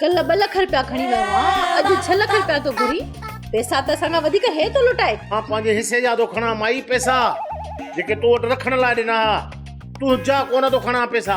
ڪلهه ٻه لک رپيا کڻي ويو هان اڄ ڇهه لک رپيا ٿو گهري پئسا ته اسان کان وڌيڪ هي ٿو لٽائي مان پنهنجي حصي جا ٿو کڻان مائي پئسا جيڪي تو وٽ رکڻ لاء ڏنا ها تون جا ڪونه ٿو کڻان پئسا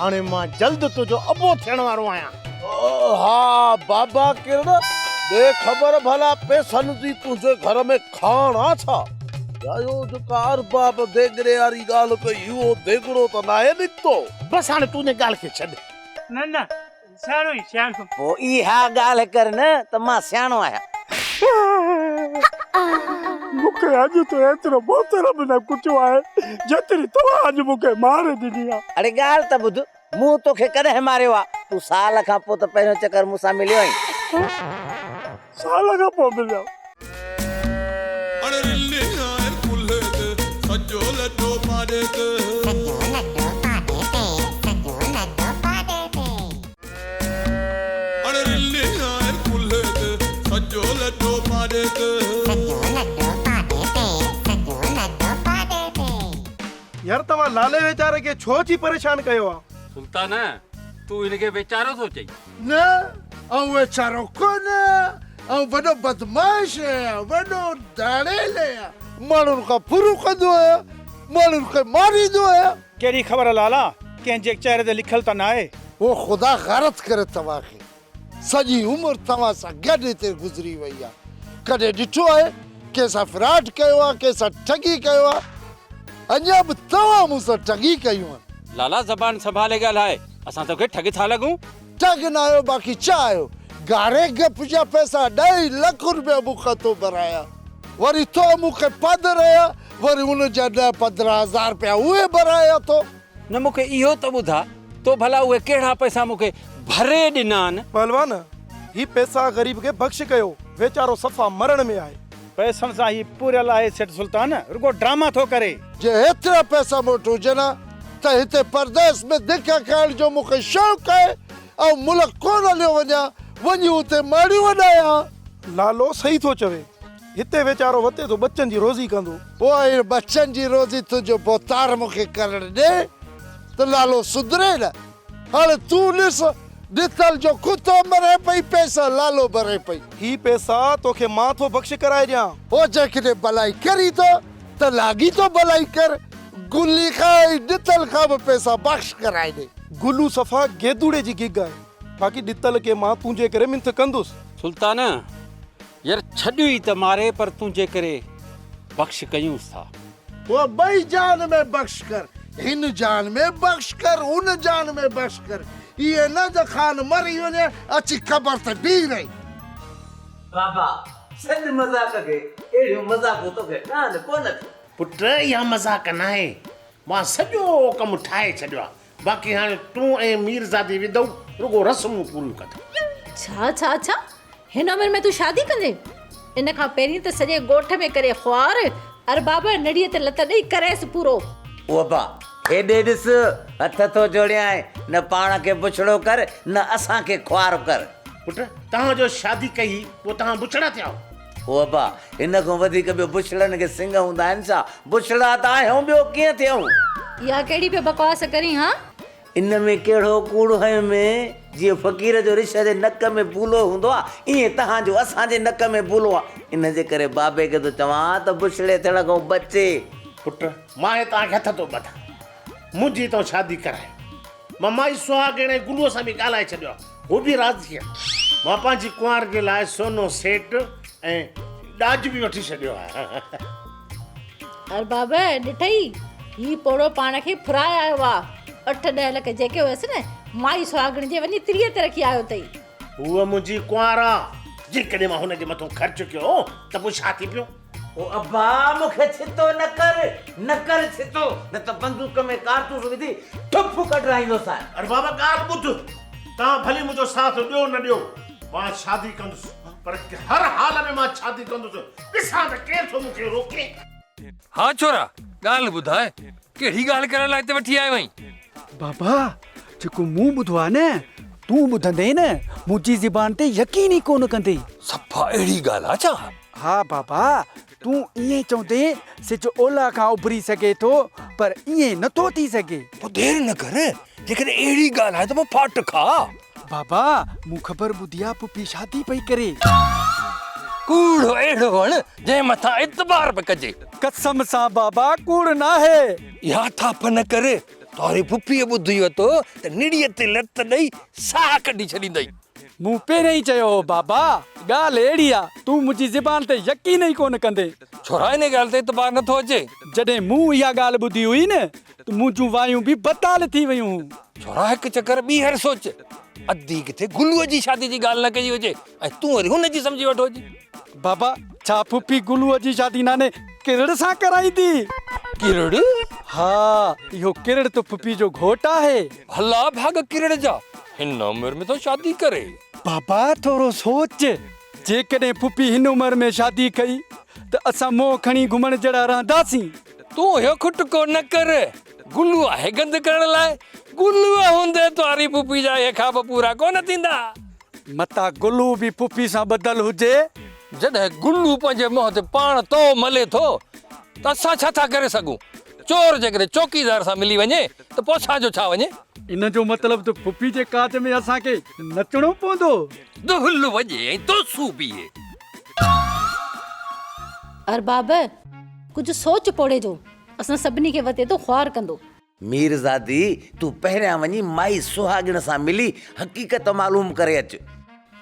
هاڻي مان جلد تنهنجو ابو ٿيڻ وارو آهيان. ها بابا ڪرڻ، ڏي خبر ڀلا پئسن جي تنهنجي گهر ۾ کاڻ آ ڇا؟ يا اهو جيڪا ارباب ديڳڙي واري ڳالهه ڪئي، اهو ديڳڙو ته ناهي نڪتو؟ بس هاڻي تون ان ڳالهه کي ڇڏ. نه نه سياڻو هين سياڻو. پوء اها ڳالهه ڪر نه ته مان سياڻو آهيان. مون کي اڄ تون ايترو بوتر به نه ڪٽيو آهي جيتري توهان اڄ مون کي مار ڏني آهي. اڙي ڳالهه ته ٻڌ مون توکي ڪڏهن ماريو آهي. تون سال کان پوء ته پهريون چڪر مون سان مليو آهين. سال کان پوء مليا. يار توهان لالي ويچاري کي ڇو ٿي پريشان ڪيو آ. سلطانه! تون هن کي ويچارو ٿو چئين. نه آئون ويچارو ڪونه آهيان، آئون وڏو بدمعاش آهيان، وڏو ڌاڙيل آهيان، ماڻهن کان ڦرون ڪندو آهيان، ماڻهن کي ماريندو آهيان. ڪهڙي خبر لالا، ڪنهن جي چهري تي لکيل ته ناهي. هو خدا غارت ڪري توهان کي، سڄي عمر توهان سان گڏ هتي گذري وئي آهي، ڪڏهن ڏٺو آهي ڪنهن سان فراڊ ڪيو آهي، ڪنهن سان ٺڳي ڪيو آهي، اڃا به توهان مون سان ٺڳي ڪيون آهن. لالا زبان سنڀالي ڳالهاء. اسان توکي ٺڳ ٿا لڳون؟ ٺڳ نه آهيو باقي ڇا آهيو؟ گاري گپ جا پئسا ڏئي لک روپيا مون کان تو ڀرايا وري تو مون کي پد ريا وري ان جا ڏهه پندرهن هزار روپيا اهي ڀرايا تو. نه مون کي اهو ته ٻڌاء تو ڀلا اهي ڪهڙا پئسا مون کي ڀري ڏنان؟ پهلوان، هي پئسا غريب کي بخش ڪيو، ويچارو صفا مرڻ ۾ آهي. پئسن سان هي پوريل آهي سيٺ سلطان رڳو ڊراما ٿو ڪري. جي هيترا پئسا مون وٽ هجن ها ته هتي پرديس ۾ ڌڪا کائڻ جو مون کي شوق آهي آئون ملڪ ڪونه هليو وڃان وڃي اتي ماڙيون وڏايان ها. لالو صحيح ٿو چوي هتي ويچارو وتي ٿو ٻچن جي روزي ڪندو. پوء هن ٻچن جي روزي تنهنجو ڀوتار مون کي ڪرڻ ڏي ته لالو سڌري نه. هاڻي تون ڏس، ڏتل جو ڪتو مري پئي، پئسا لالو ڀري پئي. هي پئسا توکي مان ٿو بخش ڪرائي ڏيان. هو جيڪڏهن ڀلائي ڪري ٿو ته لاڳيتو ڀلائي ڪر. گلي کان ۽ ڏتل کان به پئسا بخش ڪرائي ڏي. گلو صفا گيدوڙي جي گيگ آهي. باقي ڏتل کي مان تنهنجي ڪري منٿ ڪندس. سلطان، ير ڇڏيو ئي ته ماري پر تنهنجي ڪري بخش ڪيونس ٿا. هو ٻئي جان ۾ بخش ڪر، هن جان ۾ بخش ڪر، ان جان ۾ بخش ڪر، ايئن نه ته خان مري وڃي، اچي قبر تي بيهي رهي. بابا، سڏ مذاق کي، اهڙيون مذاقون توکي ٺهن ڪونه ٿيون. پٽ، اها مذاق ناهي، مان سڄو ڪم ٺاهي ڇڏيو آهي، باقي هاڻي تون ۽ ميرزادي وڌئو رڳو رسمون پوريون ڪندئو. ڇا ڇا ڇا! هن عمر ۾ تون شادي ڪندين؟ ان کان پهرين ته سڄي ڳوٺ ۾ ڪري خوار، ارباب نڙيء تي لت ڏئي ڪريس پورو. اوبا! هيڏي ڏس، هٿ ٿو جوڙيانء، نه پاڻ کي بڇڙو ڪر، نه اسان کي خوار ڪر. پٽ، توهان جو شادي ڪئي هئي، پوء توهان بڇڙا ٿياؤ. او ابا! هن کان وڌيڪ ٻيو بڇڙن کي سنگ هوندا آهن ڇا؟ بڇڙا ته آهيون ٻيو ڪيئن ٿيئون؟ اها ڪهڙي پيو بڪواس ڪرين ها؟ ان ۾ ڪهڙو ڪوڙ هنئين ۾؟ جيئن فقير جو رڇ جي نڪ ۾ بولو هوندو آهي، ايئن توهان جو اسان جي نڪ ۾ بولو آهي. ان جي ڪري بابي کي ٿو چوان ته بڇڙي ٿيڻ کان بچي. پٽ! مان هي توهان کي هٿ ٿو ٻڌان. منهنجي تون شادي ڪرائي. مان مائي سهاڳڻ ۽ گلوء سان به ڳالهائي ڇڏيو آهي. هو به راضي آهي. مان پنهنجي ڪنوار جي لاء سونو سيٽ ۽ ڏاج به وٺي ڇڏيو آهي. ارباب ڏٺئي، هي پوڙهو پاڻ کي ڦرائي آيو آ. اٺ ڏهه لک جيڪي هيس نه، مائي سهاڳڻ جي وڃي تريء تي رکي آيو اٿئي. هوء منهنجي ڪنوار آ، جيڪڏهن مان هن جي مٿو خرچ ڪيو ته پوء ڇا ٿي پيو؟ او ابا مون کي ڇتو نه ڪر، نه ڪر ڇتو، نه ته بندوق ۾ ڪارتوس وجهي ٺپ ڪڍرائيندوسانء. اري بابا ڳالهه ٻڌ، توهان ڀلي منهنجو ساٿ ڏيو نه ڏيو، مان شادي ڪندس، پر هر حال ۾ مان شادي ڪندس، ڏسان ته ڪير ٿو مون کي روڪي. ها ڇورا، ڳالهه ٻڌاء، ڪهڙي ڳالهه ڪرڻ لاء هتي وٺي آيو آهين؟ بابا، جيڪو مون ٻڌو آهي نه، تون ٻڌندين، منهنجي زبان تي يقين ئي ڪونه ڪندين. صفا اهڙي ڳالهه آهي ڇا؟ ها بابا، تون ائين چوندين، سج اولهه کان اڀري سگهي ٿو، پر ائين نه ٿو ٿي سگهي. پوء دير نه ڪر، جيڪڏهن اهڙي ڳالهه آهي ته پوء ڦاٽ کاء. بابا، مون خبر ٻڌي آ، پڦي شادي پئي ڪري. ڪوڙ اهڙو وڻ، جنهن مٿان اعتبار به ڪجي. قسم سان بابا، ڪوڙ ناهي. اها ٿاڦ نه ڪر، توهاري پڦيء ٻڌي وتو ته نڙيء تي لت ڏئي ساهه ڪڍي ڇڏيندئي. مون پهريائين چيو هو بابا ڳالهه اهڙي آ، تون منهنجي زبان تي يقين ئي ڪونه ڪندين. ڇورا انهي ڳالهه تي اعتبار نه ٿو اچي. جڏهن مون اها ڳالهه ٻڌي هئي نه ته منهنجون وايون به بتال ٿي ويون هون. ڇورا هڪ چڪر ٻيهر سوچ. ادي ڪٿي گلوء جي شادي جي ڳالهه نه ڪئي هجي ۽ تون وري هن جي سمجهي ويٺو هجين. بابا ڇا ڦوڦي گلوء جي شادي ناني ڪرڙ سان ڪرائيندي؟ ڪرڙ؟ ها اهو ڪرڙ ته ڦوڦي جو گهوٽ آهي. ڀلا ڀاڳ ڪرڙ جا. هن عمر ۾ ٿو شادي ڪري. بابا ٿورو سوچ جيڪڏهن پڦي هن عمر ۾ شادي ڪئي ته اسان منهن کڻي گهمڻ جهڙا رهنداسين. تون اهو کٽڪو نه ڪر. گلو آهي گند ڪرڻ لاء. گلوء هوندي توهاري پڦي جا اهي خواب پورا ڪونه ٿيندا. متان گلو به پڦي سان ٻڌل هجي. جڏهن گلو پنهنجي منهن تي پاڻ تئو ملي ٿو ته اسان ڇا ٿا ڪري سگهون. چور جيڪڏهن چوڪيدار سان ملي وڃي ته پوء اسان جو ڇا وڃي؟ ان جو مطلب ته ڦڦي جي ڪاڄ ۾ اسان کي نچڻو پوندو. دهل وڄي ۽ توسو بيهي. ارباب! ڪجهه سوچ پوڙهي جو، اسان سڀني کي وتي تون خوار ڪندو. ميرزادي! تون پهريان وڃي مائي سهاڳڻ سان ملي حقيقت معلوم ڪري اچ.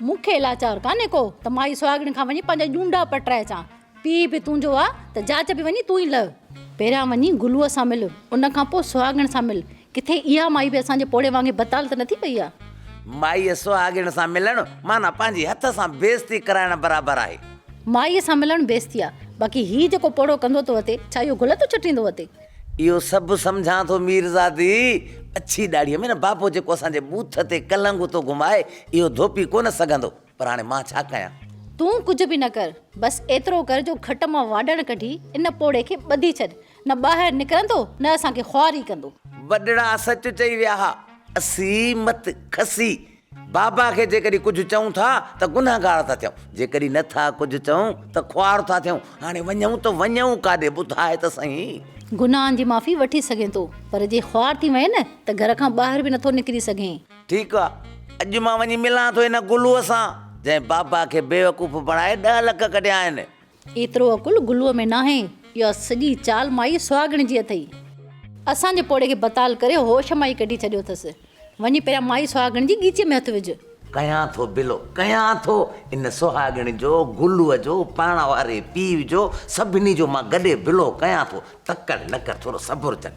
مون کي لاچار ڪانهي ڪو ته مائي سهاڳڻ کان وڃي پنهنجا ڄونڊا پٽرائي اچان. پيء به تنهنجو آ ته جاچ به وڃي تون ئي لهه. پهريان وڃي گلوء سان مل، ان کان پوء سهاڳڻ سان مل. ڪٿي اها مائي به اسان جي پوڙهي وانگي بتال ته نه ٿي پئي آ؟ مائيء سهاڳڻ سان ملڻ معنيٰ پنهنجي هٿ سان بيعزتي ڪرائڻ برابر آهي. مائيء سان ملڻ بيعزتي آ، باقي هي جيڪو پوڙهو ڪندو ٿو اٿي، ڇا اهو گل ٿو چٽيندو اٿي؟ اهو سڀ سمجهان ٿو ميرزادي. اڇي ڏاڙهيء ۾ نه بابو جيڪو اسان جي ٻوٿ تي ڪلنگهو ٿو گهمائي، اهو ڌوپي ڪونه سگهندو. پر هاڻي مان ڇا ڪيان؟ تون ڪجهه به نه ڪر، بس ايترو ڪر جو کٽ مان واڍڻ ڪڍي ان پوڙهي کي ٻڌي ڇڏ، نه ٻاهر نڪرندو نه اسان کي خواري ڪندو. وڏڙا سچ چئي ويا ها، اسين مت کسي بابا کي جيڪڏهن ڪجهه چئون ٿا ته گنهگار ٿا ٿيون، جيڪڏهن نه ٿا ڪجهه چئون ته خوار ٿا ٿيون، هاڻي وڃون ته وڃون ڪاڏي ٻڌاء ته سهين؟ گناهن جي معافي وٺي سگهين ٿو، پر جي خوار ٿي وئين ته گهر کان ٻاهر به نٿو نڪري سگهين. ٺيڪ آ اڄ مان وڃي ملان ٿو ان گلوء سان جنهن بابا کي بيوقوف بڻائي ڏهه لک ڪڍيا آهن. ايترو عقل گلوء ۾ ناهي. اها سڄي چال مائي سهاڳڻ جي اٿئي. اسان جي پوڙهي کي بتال ڪري هوش مان ئي ڪڍي ڇڏيو اٿس. وڃي پهريان مائي سهاڳڻ جي ڳيچيء ۾ هٿ وجهه. ڪيان ٿو بلو ڪيان ٿو. ان سهاڳڻ جو، گلوء جو، پاڻ واري پيء جو سڀني جو مان گڏي بلو ڪيان ٿو. تڪڙ نه ڪر ٿورو صبر چٽ.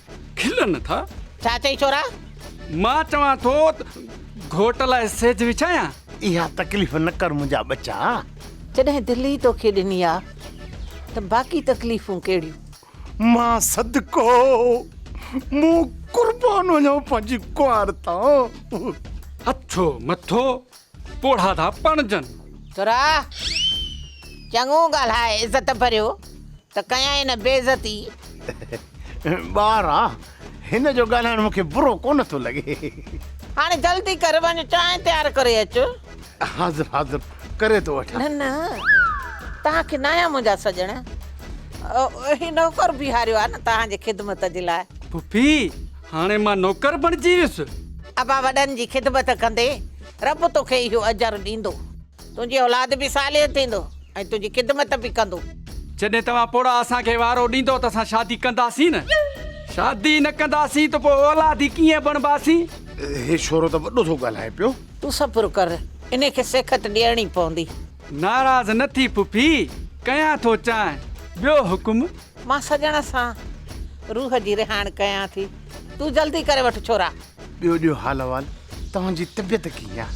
کلن ٿا. ڇا چئي ڇورا؟ مان چوان ٿو ته گهوٽ لاء سيج وڇايان. اها تڪليف نه ڪر منهنجا ٻچا. جڏهن دل ئي توکي ڏني آ ته باقي تڪليفون ڪهڙيون. مان صدقو مون قربان وڃان پنهنجي ڪنوار تان. اٿو مٿو پوڙها ٿا پڻجن. ٿورا، چڱو ڳالهاء عزت ڀريو ته ڪيائين نه بي عزتي. ٻارا، هن جو ڳالهائڻ مون کي برو ڪونه ٿو لڳي. هاڻي جلدي ڪر، وڃ چانهه تيار ڪري اچ. حاضر حاضر ڪري ٿو وٺان. نه نه، توهان کي نه آيا منهنجا سڄڻ. هي نوڪر بيهاريو آهي نه توهان جي خدمت جي لاء. ڦڦي، هاڻي مان نوڪر بڻجي ويس. ابا وڏن جي خدمت ڪندي رب توکي اهو اجر ڏيندو. تنهنجي اولاد به صالح ٿيندو ۽ تنهنجي خدمت به ڪندو. جڏهن توهان پوڙها اسان کي وارو ڏيندؤ ته اسان شادي ڪنداسين نه. شادي نه ڪنداسين ته پوء اولادي ڪيئن بڻباسين؟ هي ڇورو ته وڏو ٿو ڳالهائي پيو. تون صبر ڪر. انهي کي سيکت ڏيڻي پوندي. ناراض نه ٿي پڦي، ڪيان ٿو چانهه. ٻيو حڪم؟ مان سڄڻ سان روح جي رهاڻ ڪيان ٿي. تون جلدي ڪري وٺ ڇورا. ٻيو ڏيو حال احوال توهان جي طبيعت ڪيئن آ.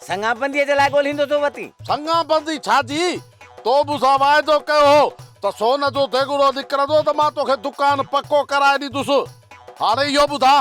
سڱان بنديء جي لاء ڳولهيندو ٿو وتين. سڱان بندي ڇا جي؟ تو مون سان واعدو ڪيو هو ته سون جو ديڳڙو نڪرندو ته مان توکي دڪان پڪو ڪرائي ڏيندس. هاڻي اهو ٻڌاء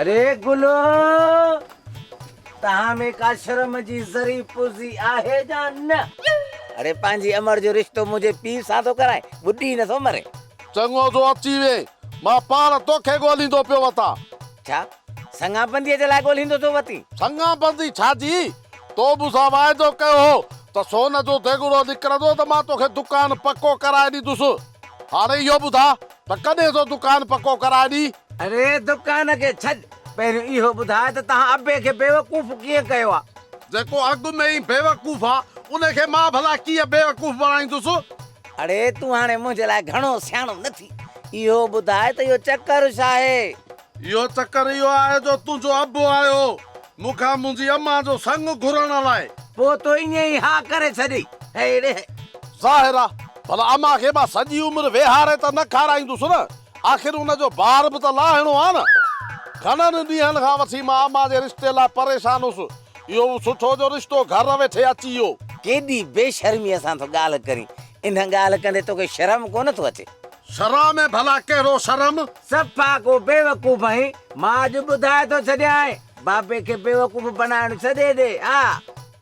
اري گلو! توهان ۾ ڪا شرم جي ذري پرزي آهي يا نه؟ اڙي پنهنجي امڙ جو رشتو منهنجي پيء سان ٿو ڪرائين، ٻڏي نه ٿو مرين. چڱو ٿو اچي وئين، مان پاڻ توکي ڳوليندو پيو وتان. ڇا؟ سڱان بنديء جي لاء ڳولهيندو ٿو وتي. سڱان بندي ڇا جي؟ تو مون سان واعدو ڪيو هو ته سون جو ديڳڙو نڪرندو ته مان توکي دڪان پڪو ڪرائي ڏيندس. هاڻي اهو ٻڌاء ته ڪڏهن ٿو دڪان پڪو ڪرائي ڏئين؟ اڙي دڪان کي ڇڏ، پهريون اهو ٻڌاء ته تنهن ابي کي بيوقوف ڪيئن ڪيو آ؟ جيڪو اڳ ۾ ئي بيوقوف آ، ان کي مان ڀلا ڪيئن بيوقوف بڻائيندس؟ اڙي تون هاڻي منهنجي لاء گهڻو سياڻو نه ٿي، اهو ٻڌاء ته اهو چڪر ڇا آهي؟ اهو چڪر اهو آهي جو تنهنجو ابو آيو هو مون کان منهنجي امان جو سڱ گهرڻ لاء. پوء تو ائين ئي ها ڪري ڇڏي هيڙي. ظاهر آ ڀلا امان کي مان سڄي عمر ويهاري ته نه کارائيندس نه. آخر ان جو بار به ته لاهڻو آ نه. گهڻن ڏينهن کان وٺي مان امان جي رشتي لاء پريشان هوس. اهو به سٺو جو رشتو گهر ويٺي اچي ويو. ڪيڏي بي شرميء سان ٿو ڳالهه ڪرين. انهن ڳالهه ڪندي توکي شرم ڪونه ٿو اچي. شرع ۾ ڀلا ڪهڙو شرم؟ صفا ڪو بيوقوف آهين، مان اڄ ٻڌائي ٿو ڇڏيانء، بابي کي بيوقوف بنائڻ ڇڏي ڏي، آء.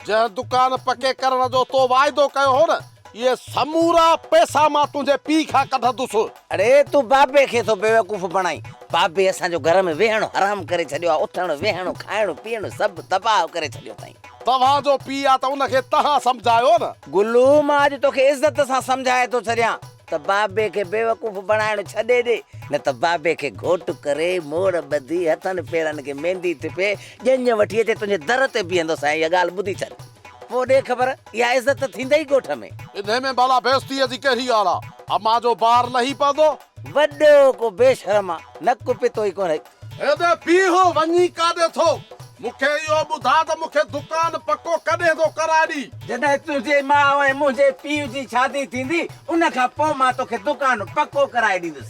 جنهن دڪان پڪي ڪرڻ جو تو واعدو ڪيو هو نه، اهي سمورا پئسا مان تنهنجي پيء کان ڪڍندس. اڙي، تون بابي کي ٿو بيوقوف بڻائين، بابي اسان جو گهر ۾ ويهڻ حرام ڪري ڇڏيو آهي، اٿڻ، ويهڻ، کائڻ، پيئڻ سڀ تباهه ڪري ڇڏيو اٿائين. توهان جو پيء آ ته ان کي تهان سمجهايو نه. گلو، مان اڄ توکي عزت سان سمجهائي ٿو ڇڏيان. ته بابي کي بيوقوف بڻائڻ ڇڏي ڏي، نه ته بابي کي گهوٽ ڪري، موڙ ٻڌي، هٿن پيرن کي ميندي ٽپي، ڄڃ وٺي اچي تنهنجي در تي بيهندو سائين اها ڳالهه ٻڌي ڇڏ. پوء ڏي خبر، اها عزت ته ٿيندئي ڳوٺ ۾. انهي ۾ ڀلا بيعزتيء جي ڪهڙي ڳالهه آ؟ امان جو بار لهي پوندو. وڏو ڪو بيشرم آ، نڪ پتو ئي ڪونه. هيڏي بيهه وڃي ڪاڏي ٿو. مون کي اهو ٻڌاء ته مون کي دڪان پڪو ڪڏهن ٿو ڪرائي ڏي. جڏهن تنهنجي ماء ۽ منهنجي پيء جي شادي ٿيندي ان کان پوء مان توکي دڪان پڪو ڪرائي ڏيندس.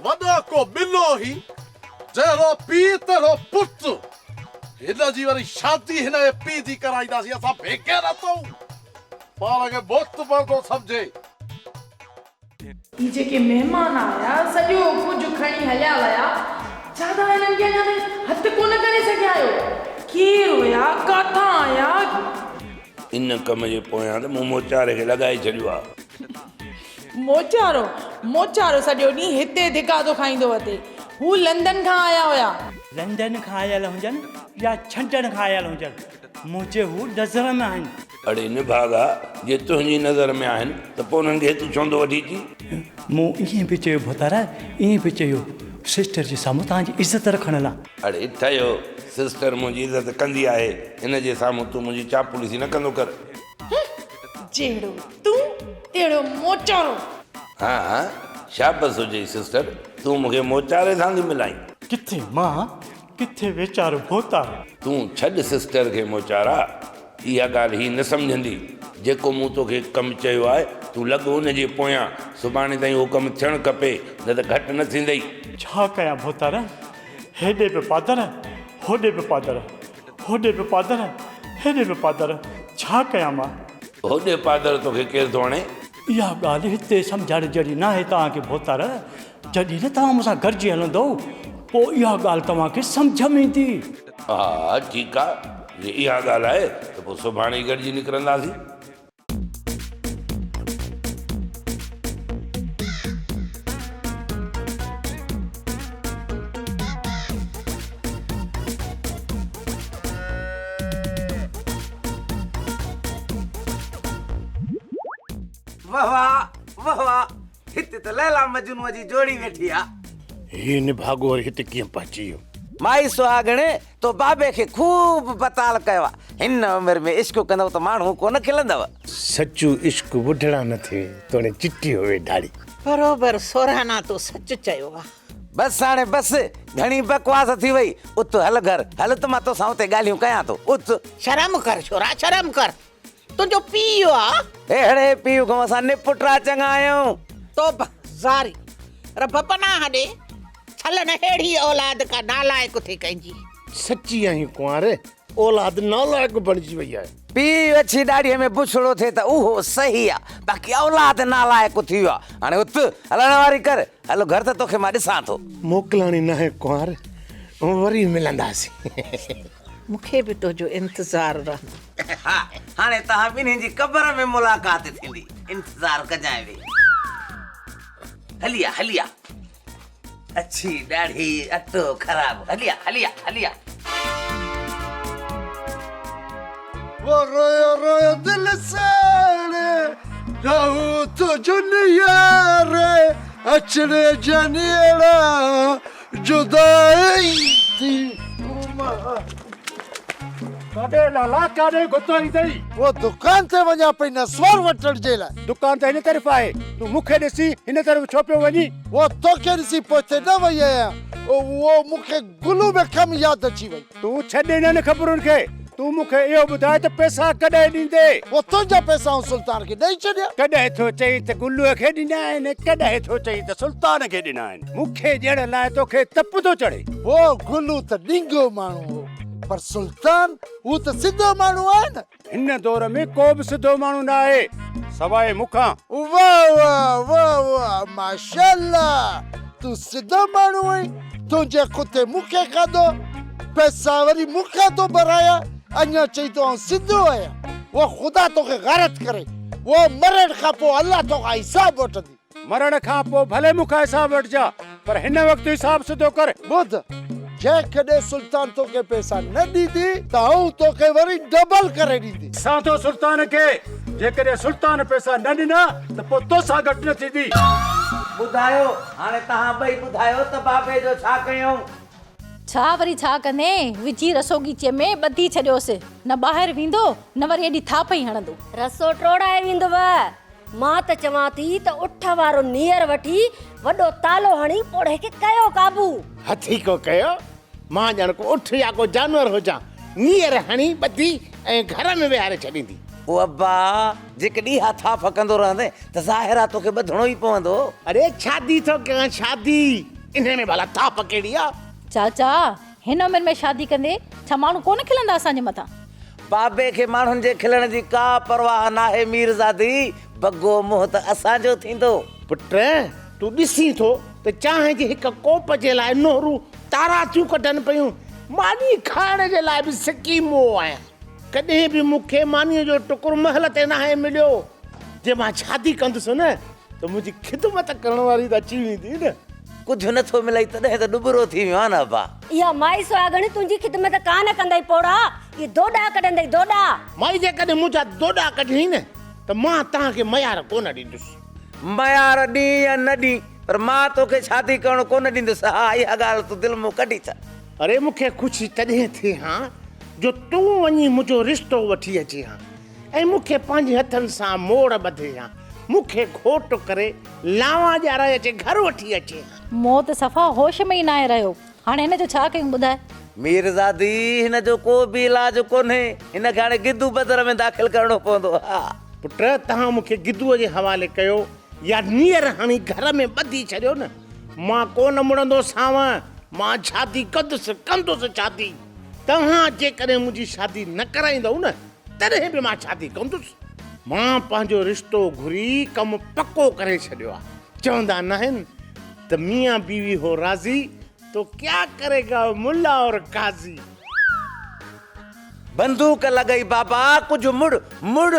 وڏو ڪو ٻلو هي. جهڙو پيء تهڙو پٽ. هن جي وري شادي هن جي پيء جي ڪرائينداسين. اسان ڀيڪي رهندؤ. پاڻ کي بت پرتو سمجهي. هي جيڪي مهمان آيا، سڄو ڪجهه کڻي هليا ويا، ڇا توهان هنن کي اڃا تائين هٿ ڪونه ڪري سگهيا آهيو؟ ڪير هيا؟ ڪٿان آيا؟ ان ڪم جي پويان ته مون موچاري کي لڳائي ڇڏيو آ. موچارو؟ موچارو سڄو ڏينهن هتي ڌڪاڌو کائيندو وتي. هو لندن کان آيا هيا. لندن کان آيل هجن يا ڇنڊڻ کان آيل هجن، منهنجي هو نظر ۾ آهن. اڙي نڀاڳا! جي تنهنجي نظر ۾ آهن ته پوء انهن کي هتي ڇو نٿو وٺي اچين؟ مون ائين به چيو ڀوتارا، ائين به چيو سسٽر جي سامهون توهان جي عزت رکڻ لا. اڙي ٺهيو! سسٽر منهنجي عزت ڪندي آهي، هن جي سامهون تون منهنجي چاپلوسي نه ڪندو ڪر. هه! جهڙو تون، تهڙو موچارو. ها ها! شابس هجئي سسٽر، تون مون کي موچاري سان ٿي ملائين. ڪٿي مان؟ ڪٿي ويچار ڀوتار. تون ڇڏ سسٽر کي موچارا. اها ڳالهه هي نه سمجهندي. جيڪو مون توکي ڪم چيو آهي، تون لڳ ان جي پويان. سڀاڻي تائين اهو ڪم ٿيڻ کپي، نه ته گهٽ نه ٿيندئي. ڇا ڪيان ڀوتار؟ هيڏي به پادر، هوڏي به پادر. هوڏي به پادر، هيڏي به پادر. ڇا ڪيان مان؟ هوڏي پادر توکي ڪير ٿو هڻي؟ اها ڳالهه هتي سمجهائڻ جهڙي ناهي توهان کي ڀوتار. جڏهن ته توهان مون سان گڏجي هلندؤ، پوء اها ڳالهه توهان کي سمجهه ۾ ايندي. ها، ٺيڪ آ، جي اها ڳالهه آهي ته پوء سڀاڻي ئي گڏجي نڪرنداسين. وهوا وهوا هت ته ليلا مجنون جي جوڙي ويٺي آ. هي نڀاڳو وري هت ڪيئن پهچي ويو؟ مائي سهاڳڻي تو بابي کي خوب بتال ڪيو آ. هن عمر ۾ عشق ڪندو ته ماڻهو ڪونه کلندو. سچو عشق وڍڙان نه ٿئي توڻي چٽي هوي ڍاڙي. بروبر سورهانا تو سچ چيو آ. بس هاڻي بس گهڻي بڪواس ٿي وئي. ات هل گهر هل ته مان توسان اتي ڳالهيون ڪيان ٿو. ات. شرم ڪر ڇورا شرم ڪر. تنهنجو پيء اهو آ. اهڙي پيء کان اسان نپٽرا چڱا آهيون. توبه زاري رب پناهه ڏي. ڇل نه ههڙي اولاد ڪا نالائق اٿئي ڪنهن جي. سچي آهين ڪنواري اولاد نالائق بڻجي وئي آهي. پيء اڇي ڏاڙهي ۾ بڇڙو ٿئي ته اهو صحيح آ باقي اولاد نالائق اٿي ويو آ هاڻي اٿ هلڻ واري ڪر هل گهر ته توکي مان ڏسان ٿو. موڪلاڻي ناهي ڪنوار وري ملنداسين. مون کي به تنهنجو انتظار رهندو. ها هاڻي توهان ٻنهين جي قبر ۾ ملاقات ٿيندي. انتظار ڪجانء ويهي. هلي آ هلي آ. اڇي ڏاڙهي اٽو خراب. هلي آ هلي آ هلي آ. هو رويو رويو دل ساڻ. رهون تنهنجون يار. اچڻ جا نيڻا. جدائي ٿي گهماء. ڪاڏي لالا ڪاڏي گهتائي ٿئي. هو دڪان تي وڃان پئي نسوار وٺڻ جي لاء. دڪان ته هن طرف آهي. تون مون کي ڏسي هن طرف ڇو پيو وڃين. هو توکي ڏسي پوئتي نه وئي آهيان. هو مون کي گلو ۾ ڪم ياد اچي وئي. تون ڇڏ انهن خبرن کي. تون مون کي اهو ٻڌاء ته پئسا ڪڏهن ڏيندين؟ پوء تنهنجا پئسا آئون سلطان کي ڏئي ڇڏيا. ڪڏهن ٿو چئين ته گلوء کي ڏنا آهن ۽ ڪڏهن ٿو چئين ته سلطان کي ڏنا آهن. مون کي ڏيڻ لاء تو کي تپ ٿو چڙهي. هو گلو ته ڏينگو ماڻهو هو پر سلطان هو ته سڌو ماڻهو آهي نه. هن دور ۾ ڪو به سڌو ماڻهو نه آهي سواء مون کان. واه واه واه واه ماشاءالله تون سڌو ماڻهو آهين تنهنجي ڪتي مون کي کاڌو پئسا وري مون کان ٿو ڀرايا اڃا چئين ٿو آئون سڌو آهيان واه خدا توکي غارت ڪري واه مرڻ کان پوء الله توکان حساب وٺندي. مرڻ کان پوء ڀلي مون کان حساب وٺجاء، پر هن وقت حساب سڌو ڪر. ٻڌ، جيڪڏهن سلطان توکي پئسا نه ڏيندي ته آئون توکي وري ڊبل ڪري ڏيندي. ساڌو سلطان کي، جيڪڏهن سلطان پئسا نه ڏنا ته پوء توسان گهٽ نه ٿيندي. ٻڌايو، هاڻي توهان ٻئي ٻڌايو ته بابي جو ڇا ڪيائون؟ ڇا وري ڇا ڪندين؟ وجهي رسوڳيچي ۾ ٻڌي ڇڏيوس. نه ٻاهر ويندو، نه وري ايڏي ٿاڦ ئي هڻندو. رسو ٽوڙائي ويندو. مان ته چوان ٿي ته اٺ وارو نيئر وٺي وڏو تالو هڻي پوڙهي کي ڪيو قابو. هٿي ڪو ڪيو، مان ڄڻ ڪو اٺ يا ڪو جانور هجان، نيئر هڻي ٻڌي ۽ گهر ۾ ويهاري ڇڏيندي. او ابا، جيڪ ڏيها ٿا ڦڪندو رهندين ته ظاهر آ توکي ٻڌڻو ئي پوندو. اڙي شادي ٿو ڪيان شادي، انهيء ۾ ڀلا ٿاڦ ڪهڙي آ؟ چاچا، هن عمر ۾ شادي ڪندي ڇا ماڻهو ڪونه کلندا اسان جي مٿان. بابي کي ماڻهن جي کلڻ جي ڪا پرواهه ناهي ميرزادي بگو منهن ته اسان جو ٿيندو. پٽ تون ڏسين ٿو ته چانهه جي هڪ ڪوپ جي لاء نوهرون تارا ٿيون ڪڍن پيون ماني کائڻ جي لاء به سڪي مئو آهيان ڪڏهن به مون کي مانيء جو ٽڪر مهل تي ناهي مليو جي مان شادي ڪندس نه ته منهنجي خدمت ڪرڻ واري ته اچي ويندي نه. ڪجهه نه ٿو ملئي تڏهن ته ڏٻرو ٿي ويو آهي نه ابا. اها مائي سهاڳڻ تنهنجي خدمت ڪا نه ڪندئي پوڙها، اهي دوڏا ڪڍندئي دوڏا. مائي جيڪڏهن منهنجا دوڏا ڪڍيائين نه ته مان توهان کي ميار ڪونه ڏيندس. ميار ڏين يا نه ڏين پر مان توکي شادي ڪرڻ ڪونه ڏيندس. ها اها ڳالهه تون دل مون ڪڍي ٿا. اڙي مون کي خوشي تڏهن ٿئي ها جو تون وڃي منهنجو رشتو وٺي اچين ها. ۽ مون کي پنهنجي هٿن سان موڙ ٻڌي هان، مون کي گهوٽ ڪري لانوا ڄارائي اچي گهر وٺي اچي هان. مون ته صفا هوش ۾ ئي ناهي رهيو. هاڻي هن جو ڇا ڪيون ٻڌاء. ميرزادي هن جو ڪو به علاج ڪونهي، هن کي هاڻي گدو بدر ۾ داخل ڪرڻو پوندو ها. پٽ توهان مون کي گدوء جي حوالي ڪيو يا نيئر هڻي گهر ۾ ٻڌي ڇڏيو نه، مان ڪونه مڙندو سانو، مان شادي ڪندس، ڪندس شادي، توهان جيڪڏهن منهنجي شادي نه ڪرائيندؤ نه تڏهن به مان شادي ڪندس. مان پنهنجو رشتو گهري ڪم پڪو ڪري ڇڏيو آ. چوندا ناهن ته ميان بيوي هو راضي تو ڪيا ڪري گا ملا اور قاضي. بندوق لڳئي بابا ڪجهه مڙ مڙ.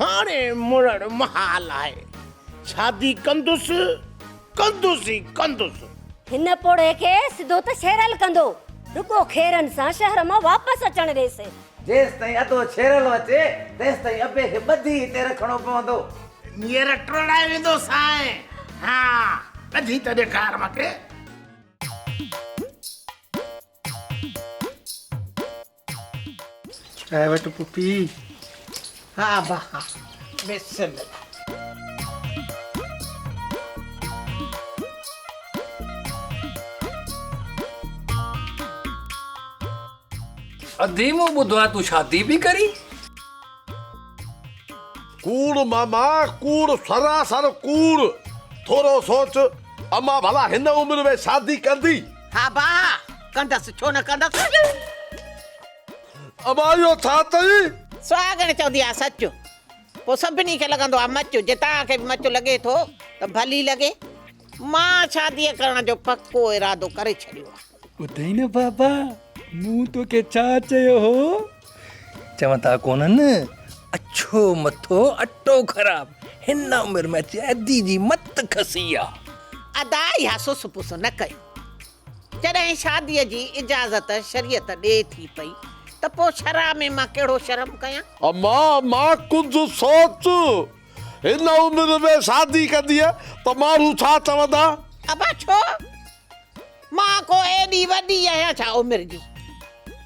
هاڻي مڙڻ محال آهي. شادي ڪندس ڪندس ئي ڪندس. هن پوڙهي کي سڌو ته شيرل ڪندو. رڳو خيرن سان شهر مان واپس اچڻ ڏيس. جيستائين ادو ڇيرل اچي تيستائين ابي کي ٻڌي هتي رکڻو پوندو. نير ٽوڙائي ويندو سائين. ها ٻڌي ته ڏيکار مونکي. چانهه وٺ پڦي. ها ابا ها بسم الله. ادي مون ٻڌو آهي تون شادي پي ڪرين. ڪوڙ ماما ڪوڙ سراسر ڪوڙ ٿورو سوچ امان ڀلا هن عمر ۾ شادي ڪندي. ها با ڪندس ڇو نه ڪندس. امان اهو ڇا چئي. سهاڳڻ چوندي آ سچ پو سڀني کي لڳندو آ مچ جي توهان کي به مچ لڳي ٿو ته ڀلي لڳي مان شادي ڪرڻ جو پڪو ارادو ڪري ڇڏيو آ. ٻڌئي نه بابا مون توکي ڇا چيو هو. چون ٿا ڪونهن اڇو مٿو اٽو خراب هن عمر ۾ اچي ادي جي مت کسي آ. ادا اها سس پس نه ڪيو جڏهن شادي جي اجازت شريعت ڏي ٿي پئي ته پو شرع ۾ مان ڪهڙو شرم ڪيان. اما مان ڪجهه سوچ هن عمر ۾ شادي ڪندينء ته ماڻهو ڇا چوندا. ابا ڇو مان ڪو ايڏي وڏي آهيان ڇا عمر جي؟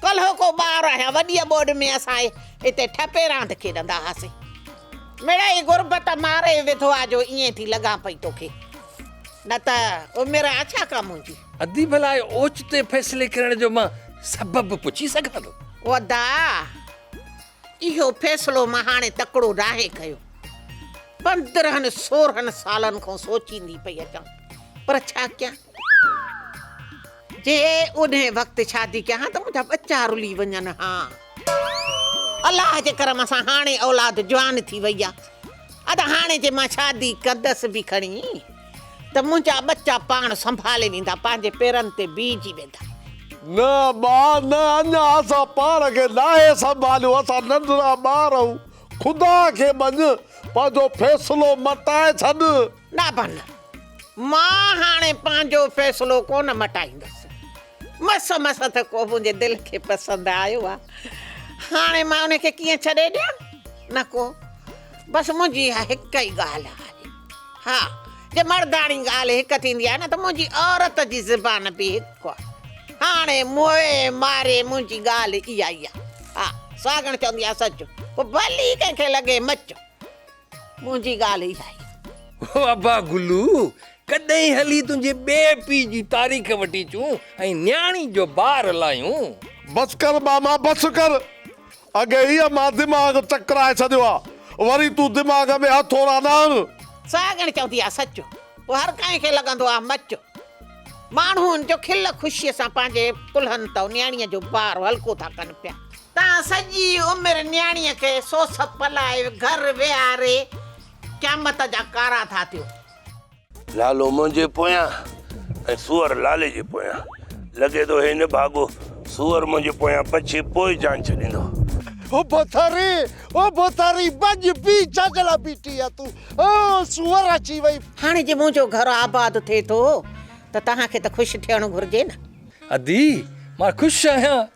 ڪلهو ڪو ٻار آهيان، وڏيء ٻوڏ ۾ اسان هتي ٺپي راند کيڏندا هئاسين. مڙئي غربت ماري وڌو آ جو ائين ٿي لڳان پئي توکي، نه ته عمر آ ڇا ڪا منهنجي؟ ادي ڀلا اهي اوچتي فيصلي ڪرڻ جو مان سبب پڇي سگهان ٿو؟ ادا! اهو فيصلو مان هاڻي تڪڙو ناهي ڪيو. پندرهن سورهن سالن کان سوچيندي پئي اچان، پر ڇا ڪيان؟ جي انهي وقت شادي ڪيان ها ته منهنجا ٻچا رلي وڃن ها. الله جي ڪرم سان هاڻي اولاد جوان ٿي وئي آ. ادا هاڻي جي مان شادي ڪندس به کڻي. ته منهنجا ٻچا پاڻ سنڀالي ويندا، پنهنجي پيرن تي بيهجي ويندا. نه ابا، نه اڃا اسان پاڻ کي ناهي سنڀاليو، اسان ننڍڙا ٻار آهيون، خدا کي مڃ، پنهنجو فيصلو مٽائي ڇڏ. نه ابا نه، مان هاڻي پنهنجو فيصلو ڪونه مٽائيندس، مس مس ته ڪو منهنجي دل کي پسند آيو آهي، هاڻي مان ان کي ڪيئن ڇڏي ڏيان، نه ڪو، بس منهنجي اها هڪ ئي ڳالهه آهي. ها، جي مرداڻي ڳالهه هڪ ٿيندي آهي نه ته منهنجي عورت جي زبان به هڪ آهي. هاڻي موئي ماري منهنجي ڳالهه اها ئي آهي. ها، ساڳڻ چوندي آهي سچ، پوء ڀلي ڪنهن کي لڳي مچ. منهنجي ڳالهه اها ئي آهي. هو، ابا گلو، ڪڏهن هلي تنهنجي ٻئي پيء جي تاريخ وٺي اچون ۽ نياڻي جو بار لاهيون. بس ڪر ماما، بس ڪر. اڳي ئي امان دماغ چڪرائي ڇڏيو آ وري تون دماغ ۾ هٿوڙا نه هڻ. سهاڳڻ چوندي آ سچ پوء هر ڪنهن کي لڳندو آ مچ. ماڻهون جو کل خوشيء سان پنهنجي ڪلهن تئو نياڻيء جو بار هلڪو ٿا ڪن پيا. تان سڄي عمر نياڻيء کي سوس پلائي گهر ويهاري قيامت جا ڪارا ٿا ٿيو. لالو منهنجي پويان ۽ سوئر لالي جي پويان. لڳي ٿو هي نڀاڳو سوئر منهنجي پويان پڇي پوء جان ڇڏيندو. او ڀوتاري، او ڀوتاري، ڀڄ بيهه ڇا جي لاء بيٺي آهي تون، او سوئر اچي وئي. هاڻي جي منهنجو گهر آباد ٿئي ٿو ته توهان کي ته خوش ٿيڻ گهرجي نه. ادي، مان خوش آهيان.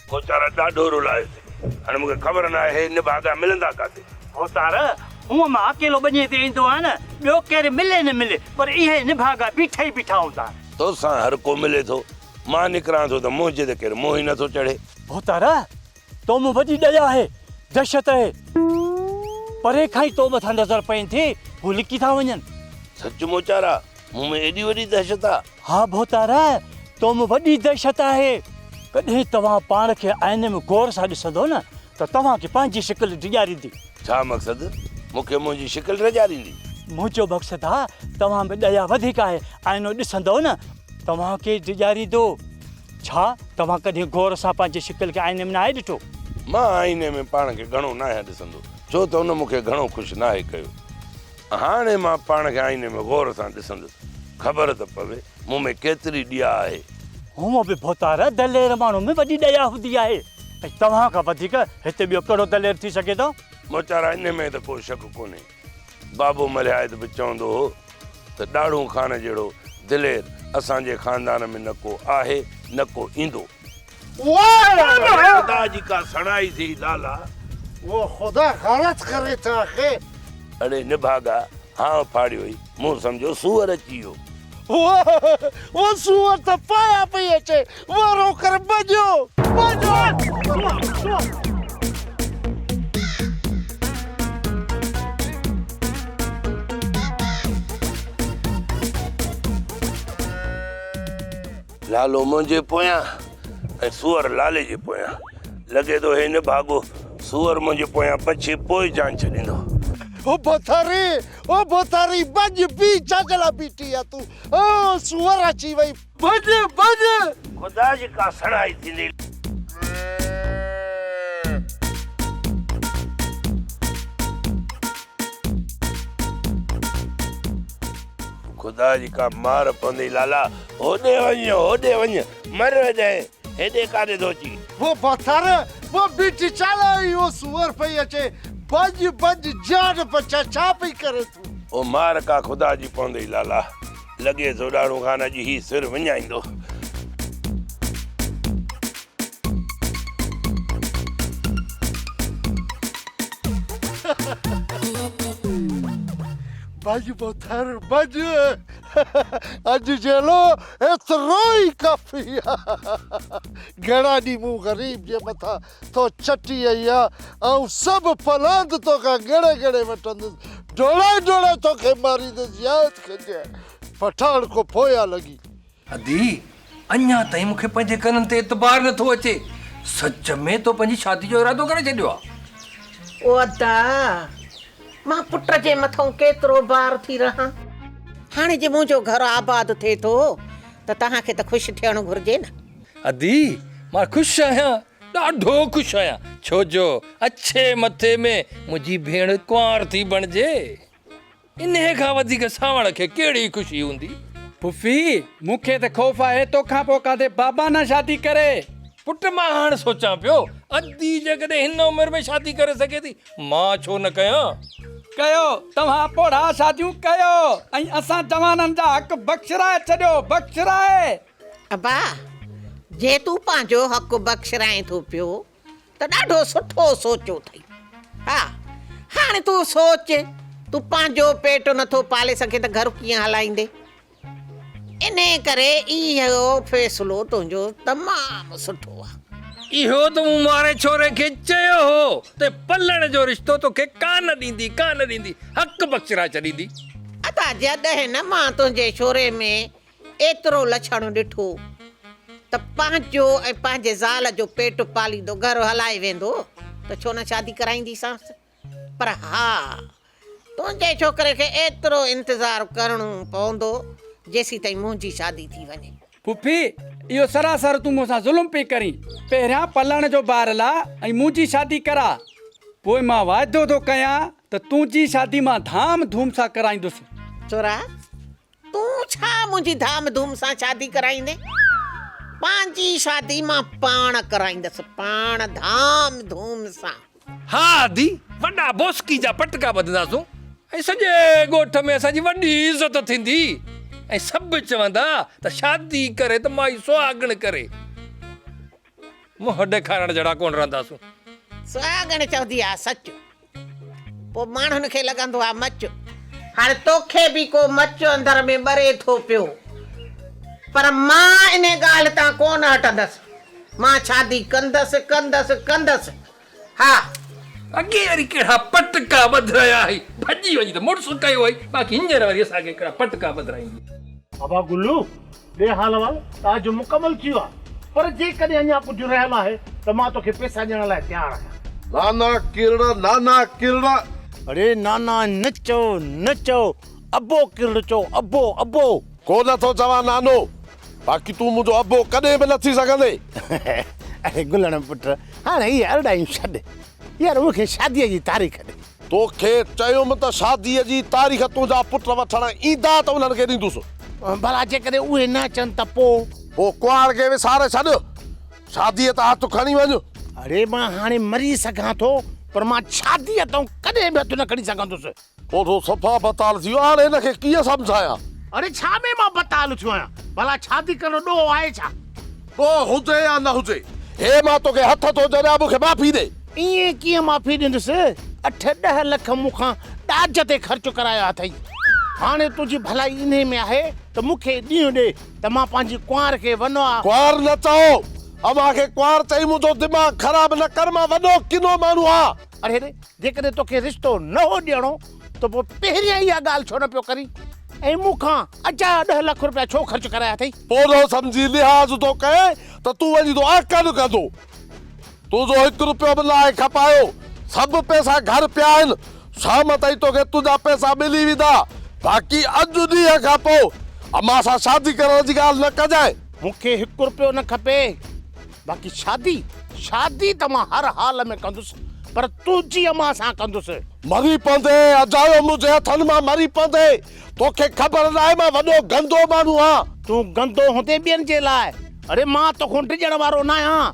ڀوتارا ڏاڍو رلايس ٿي. هاڻي مون کي خبر نه آهي نڀاڳا ملندا ڪاٿي؟ ڀوتارا، هونء مان اڪيلو ٻنيء تي ايندو آهيان نه، ٻيو ڪير ملي نه ملي، پر اهي نڀاڳا بيٺا ئي بيٺا هوندا آهن. تو سان هر ڪو ملي ٿو. مان نڪران ٿو ته منهنجي ته ڪير موهه ئي نه ٿو چڙهي. ڀوتارا، تو مان وڏي ڏيئي آهي، دهشت اهي. پري کان ئي تو مٿان نظر پئين ٿي، هو لڪي ٿا وڃن. سچ ڀوتارا، مون ۾ ايڏي وڏي دهشت آ؟ ها ڀوتاره، تو ۾ وڏي دهشت آهي. ڪڏهن توهان پاڻ کي آئيني ۾ غور سان ڏسندو نه ته توهان کي پنهنجي شڪل ڊيڄاريندي. ڇا مقصد؟ مون کي منهنجي شڪل ڊيڄاريندي؟ منهنجو مقصد آ، توهان ۾ ڏيا وڌيڪ آهي، آئينو ڏسندو نه توهان کي ڊيڄاريندو. ڇا توهان ڪڏهن غور سان پنهنجي شڪل کي آئيني ۾ ناهي ڏٺو؟ مان آئيني ۾ پاڻ کي گهڻو ناهيان ڏسندو، ڇو ته ان مون کي گهڻو خوش ناهي ڪيو. هاڻي مان پاڻ کي آئيني ۾ غور سان ڏسندس، خبر ته پوي مون ۾ ڪيتري ڏيا آهي. هونئن به ڀوتار دلير ماڻهن ۾ وڏي ڏيا هوندي آهي ۽ توهان کان وڌيڪ هتي ٻيو ڪهڙو دلير ٿي سگهي ٿو؟ موچارا انهي ۾ ته ڪو شڪ ڪونهي. بابو ملهايت به چوندو هو ته ڏاڙهون خان جهڙو دلير اسان جي خاندان ۾ نه ڪو آهي نه ڪو ايندو. ڀلي خدا جي ڪا سڻائي سھي لالا. اھو خدا غارت ڪري ٿو آخر. اڙي نڀاڳا ھانء ڦاڙيو ھئي مون سمجھيو سوئر اچي ويو. اھو سوئر ته پايان پئي اچي وارو ڪري ڀڄيو ڀڄيو. لالو منهنجي پويان ۽ سوئر لالي جي پويان لڳي ٿو هي نڀاڳو سوئر منهنجي پويان پڇي پوء جان ڇڏيندو او ڀوتاري او ڀوتاري ڀڄ بي ڇا جي لاء بيٺي آ تون او سوئر اچي وئي ڀڄ ڀڄ خدا جي ڪا سڻائي ٿيندي. خدا جي ڪا مار پوندي لالا هوڏي وڃ، هوڏي وڃ، مر هيڏانهن، هيڏي ڪاڏي ٿو اچين؟ وو ڀتر، وو بيٺي چالاء ۽ وو سوئر پئي اچي، ڀڄ، ڀڄ، جان بچاء، ڇا پئي ڪرين تون؟ او مار ڪا خدا جي پوندئي لالا، لڳي ٿو ڏاڙهون خان اڄ هي سر وڃائيندو. ڀڄ ڀتر، ڀڄ، اڄ جهڙو ايترو ئي ڪافي آ. گهڻا ڏينهن مون غريب جي مٿان ٿو چٽي اهي آ. آئون سڀ پلاند توکان ڳڻي ڳڻي وٺندس. ڊوڙائي ڊوڙائي توکي ماريندس ياد ڪجانء. پٺاڻ کان پويان لڳي. ادي! اڃا تائين مون کي پنهنجي ڪنن تي اعتبار نه ٿو اچي. سچ ۾ تو پنهنجي شادي جو ارادو ڪري ڇڏيو آ. او ادا! مان پٽ جي مٿئون ڪيترو بار ٿي رهان. هاڻي جي منهنجو گهر آباد ٿئي ٿو ته توهان کي ته خوش ٿيڻ گهرجي نه. ادي! مان خوش آهيان، ڏاڍو خوش آهيان. ڇو جو اڇي مٿي ۾ منهنجي ڀيڻ ڪنوار ٿي بڻجي. انهيء کان وڌيڪ سانوڻ کي ڪهڙي خوشي هوندي؟ ڦڦي، مون کي ته خوف آهي تو کان پوء ڪاڌي بابا نه شادي ڪري. پٽ، مان هاڻ سوچان پيو، ادي جيڪڏهن هن عمر ۾ شادي ڪري سگهي ٿي، مان ڇو نه ڪيان؟ ڪيو، توهان پوڙها شاديون ڪيو ۽ اسان جوانن جا حق بخشرائي ڇڏيو، بخشرائي! ابا، جي تون پنهنجو حق بخشرائين ٿو پيو ته ڏاڍو سٺو سوچيو اٿئي. ها، هاڻي تون سوچ، تون پنهنجو پيٽ نٿو پالي سگهين ته گهر ڪيئن هلائيندين؟ انهيء ڪري اهو فيصلو تنهنجو تمام سٺو آهي. اهو ته مون مارئي ڇوري کي چيو هو ته پلڻ جو رشتو توکي ڪانه ڏيندي، ڪانه ڏيندي، حق بخشرائي ڇڏيندي. ادا جڏهن نه مان تنهنجي ڇوري ۾ ايترو لڇڻو ڏٺو ته پنهنجو ۽ پنهنجي زال جو پيٽ پاليندو گهر هلائي ويندو ته ڇو نه شادي ڪرائينديسانس. پر ها! تنهنجي ڇوڪري کي ايترو انتظار ڪرڻو پوندو جيسيتائين منهنجي شادي ٿي وڃي. ڦڦي! اهو سراسر تون مون سان ظلم پئي ڪرين. پهريان پلڻ جو بار لاء ۽ منهنجي شادي ڪراء. پوء مان واعدو ٿو ڪيان ته تنهنجي شادي مان ڌام ڌوم سان ڪرائيندس. ڇورا! تون ڇا منهنجي ڌام ڌوم سان شادي ڪرائيندين؟ پنهنجي شادي مان پاڻ ڪرائيندس، پاڻ ڌام ڌوم سان. ها ادي، وڏا بوسڪي جا پٽڪا ٻڌنداسون ۽ سڄي ڳوٺ ۾ اسان جي وڏي عزت ٿيندي ۽ سڀ چوندا ته شادي ڪري ته مائي سهاڳڻ ڪري. منهن ڏيکارڻ جهڙا ڪونه رهنداسون. سهاڳڻ چوندي آ سچ. پوء ماڻهن کي لڳندو آ مچ. هاڻي توکي به ڪو مچ اندر ۾ ٻري ٿو پيو. پر مان انهي ڳالهه تان ڪونه هٽندس. مان شادي ڪندس ڪندس ڪندس. ها اڳي وري ڪهڙا پٽڪا ٻڌرايا هئي ڀڄي وڃي ته مڙس ڪيو هئي باقي هينئر وري اسان کي ڪهڙا پٽڪا ٻڌرائيندي. بابا گلو ڏي حال احوال تاجو مڪمل ٿي ويو آهي پر جيڪڏهن اڃا ڪجهه رهيل آهي ته مان توکي پيسا ڏيڻ لاء تيار آهيان. نانا ڪرڙ نانا ڪرڙ. اڙي نانا نه چئو نه چئو ابو ڪرڙ چئو ابو ابو. ڪو نه ٿو چوان نانو باقي تون منهنجو ابو ڪڏهن به نه ٿي سگهندين. اڙي گلڻ پٽ هاڻ اهي ارڙايون ڇڏ يار مون کي شادي جي تاريخ ڏي. توکي چيم ته شادي جي تاريخ تنهنجا پٽ وٺڻ ايندا ته انهن کي ڏيندس. ڀلا جيڪڏهن اهي نه اچن ته پو؟ پو ڪهاڙ کي وساري ڇڏ شادي تان هٿ کڻي وڃ. اڙي مان هاڻي مري سگهان ٿو پر مان شادي تان ڪڏهن به هٿ نه کڻي سگهندس. پوء ٿو صفا بتال ٿي ويو هاڻ هن کي ڪيئن سمجهايان. اڙي ڇا ۾ مان بتال ٿيو آهيان ڀلا شادي ڪرڻ ڏوهه آهي ڇا. ڏوهه هجي يا نه هجي هي مان توکي هٿ ٿو جهريان مون کي معافي ڏي. ائين ڪيئن معافي ڏيندس اٺ ڏهه لک مون کان ڏاج تي خرچ ڪرايا اٿئي هاڻي تنهنجي ڀلائي انهي ۾ آهي ته مون کي ڏينهن ڏي ته مان پنهنجي ڪنوار کي ونوا. ڪنوار نه چئو اوهان کي ڪنوار چئي منهنجو دماغ خراب نه ڪر مان وڏو ڪنو ماڻهو آهان. اڙي جيڪڏهن توکي رشتو نه هو ڏيڻو ته پوء پهريان اها ڳالهه ڇو نه پيو ڪرين ۽ مون کان اجايا ڏهه لک رپيا ڇو خرچ ڪرايا اٿئي. پورهيو سمجهي لحاظ ٿو ڪئين ته تون وڃي ٿو احقن ڪندو. تنهنجو هڪ رپيو به ناهي کپايو. سڀ پئسا گهر پيا آهن. شام تائين توکي تنهنجا پئسا ملي ويندا. باقي اڄ ڏينهن کان پوء امان سان شادي ڪرڻ جي ڳالهه نه ڪجانء. مون کي هڪ رپيو نه کپي. باقي شادي شادي ته مان هر حال ۾ ڪندس پر تنهنجي امان سان ڪندس. مري پوندين اجايو منهنجي هٿن مان مري پوندين توکي خبر ناهي مان وڏو گندو ماڻهو آهيان. تون گندو هوندين ٻين جي لاء اڙي مان توکون ڊڄڻ وارو ناهيان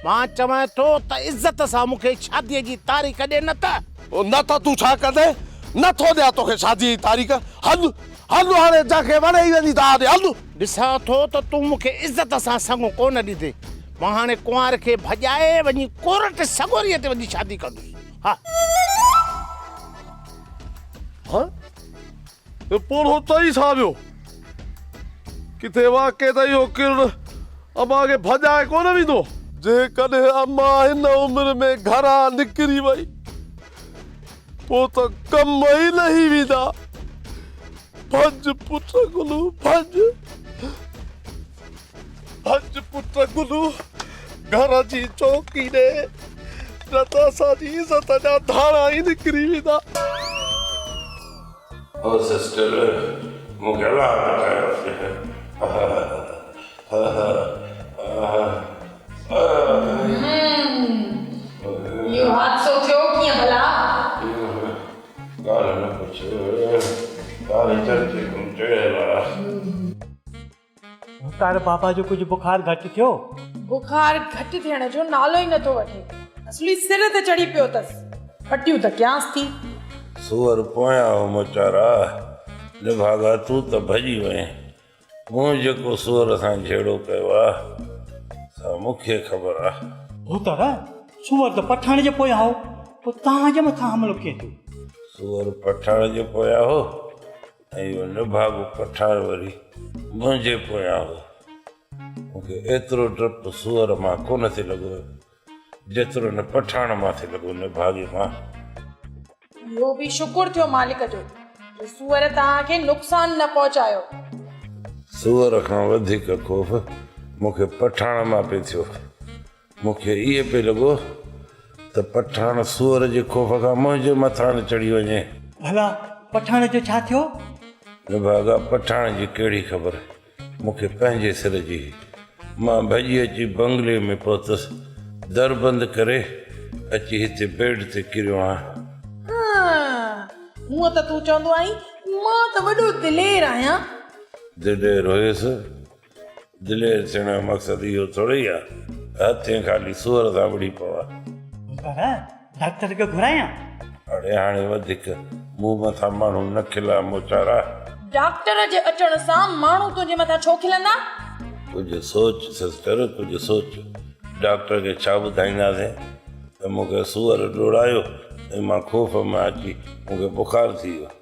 مان چوان ٿو ته عزت سان مونکي شادي جي تاريخ ڏي نه ته. نه ته تون ڇا ڪندين نه ٿو ڏيان توکي شادي جي تاريخ هل هل هاڻي جنهن کي وڻي ئي وڃي ٿا آڏي هل. ڏسان ٿو ته تون مون کي عزت سان سڱو ڪونه ڏيندين. مان هاڻي ڪنوار کي ڀڄائي وڃي ڪورٽ سڳوريء تي وڃي شادي ڪندس. ها. ها. اهو پوڙهو چئي ڇا ويو؟ ڪٿي واقعي ته اهو ڪرڻ امان کي ڀڄائي ڪونه ويندو؟ جيڪڏهن امان هن عمر ۾ گهران نڪري وئي. پوء ته ڪم ئي لهي ويندا. ڀڄ پٽ گلو ڀڄ. ڀڄ پٽ گلو گهر جي چوڪي ڏي نه ته اسان جي عزت جا ڌاڻا ئي نڪري ويندا. او سسٽر مون کي الاهه ٻڌايو مختار بابا جو ڪجهه بخار گهٽ ٿيو؟ بخار گهٽ ٿيڻ جو نالو ئي نٿو وٺي. اصلي سر تي چڙهي پيو اٿس. ڦٽيون ته ڪيانس ٿي. سوئر پويان هو مچارا. نڀاڳا تون ته ڀڄي وئين. مون جيڪو سور سان جهيڙو ڪيو آ، سا مون کي خبر آ. هو ته رح، سوئر ته پٺاڻ جي پويان هو، پوء توهان جي مٿان حملو ڪيئن ٿيو؟ سوئر پٺاڻ جي پويان هو ۽ اهو نڀاڳو پٺاڻ وري منهنجي پويان هو. مون کي ايترو ڊپ سوئر مان ڪونه ٿي لڳو. جيترو نه پٺاڻ ماٿي لڳو نه ڀاڳي مان. اهو به شڪر ٿيو مالڪ جو جو سوئر توهان کي نقصان نه پهچايو. سوئر کان وڌيڪ خوف مون کي پٺاڻ مان پئي ٿيو. مون کي ايئن پئي لڳو ته پٺاڻ سوئر جي خوف کان منهنجي مٿان نه چڙهي وڃي. ڀلا پٺاڻ جو ڇا ٿيو؟ نڀاڳا پٺاڻ جي ڪهڙي خبر. مون کي پنهنجي سر جي هئي. مان ڀڄي اچي بنگلي ۾ پهتس. در بند ڪري اچي هتي بيڊ تي ڪريو آهيان. هونء ته تون چوندو آهين مان ته وڏو دلير آهيان. دلير هيس؟ دلير ٿيڻ جو مقصد اهو ٿورئي آهي ته هٿين خالي سوئر سان وڙهي پوان. پر ڊاڪٽر کي گهرايان؟ اڙي هاڻي وڌيڪ مون مٿان ماڻهو نه کلان موچارا. ڊاڪٽر جي اچڻ سان ماڻهو تنهنجي مٿان ڇو کلندا؟ ڪجهه سوچ سسٽر ڪجهه سوچ. ڊاڪٽر کي ڇا ٻڌائينداسين ته مون کي سوئر ڊوڙايو ۽ مان خوف مان اچي مون کي بخار ٿي ويو.